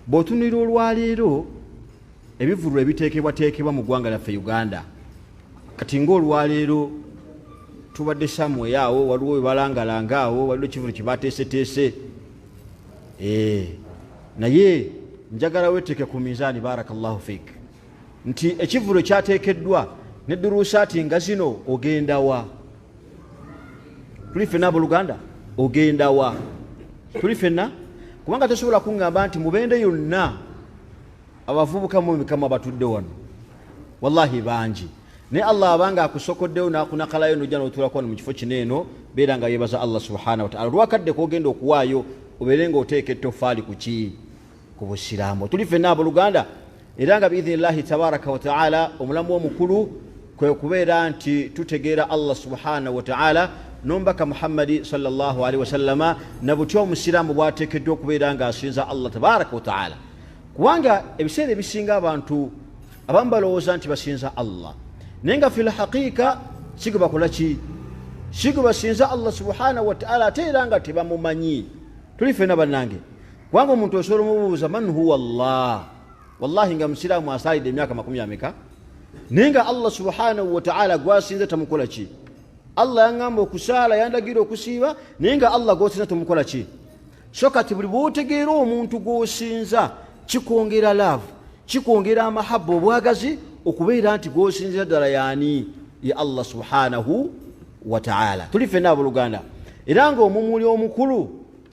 Bw'otunulira olwaleero ebivvulu ebiteekebwateekebwa mu ggwanga lyaffe Uganda, kati ng'olwaleero tubadde samwe awo waliwo webalangalanga awo waliwo ekivulu kyebateeseteese eh, naye njagala weteeke ku minzaani barakallahu fik nti ekivulu kyateekeddwa ne duruusaati nga zino ogendawa tuli fena aboluganda ogenda wa tuli fena kubanga tosobola kuŋŋamba nti mubende yonna abavubuka mu mikama batudde wano wallahi bangi naye allah abanga akusokoddeyo nakunakalayo nojja notulako wano mu kifo kino eno beera nga yebaza allah subhanahu wataala olwakadde kogenda okuwaayo obeere nga oteeka ettofaali ku kii ku busiraamu tuli fenna aboluganda era nga biidhini llahi tabaraka wataala omulamu omukulu kwe kubeera nti tutegeera allah subhanahu wataala nomubaka muhammadi salllahalihi wasallama na butya omusiraamu bwateekeddwa okubeera ng'asinza allah tabaraka wataala kubanga ebiseera ebisinga abantu abamu balowooza nti basinza allah naye nga fi lhaqiika sigo bakola ki sigo basinza allah subhanahu wataala ate era nga tebamumanyi tuli fena bannange kubanga omuntu osobola omubuuza man huwa llah wallahi nga musiraamu asaalidde emyaka makumi ameka naye nga allah subhanahu wataala gwasinze tamukola ki allah yaŋamba okusaala yandagira okusiiba naye nga allah gwosinza tamukola ki so kati buli bwotegeera omuntu gwosinza kikwongera laavu kikwongera amahaba obwagazi okubeera nti gwosinzira ddala yaani ye allah subhanahu wataala tuli fenna aboluganda era ngaomumuli omukulu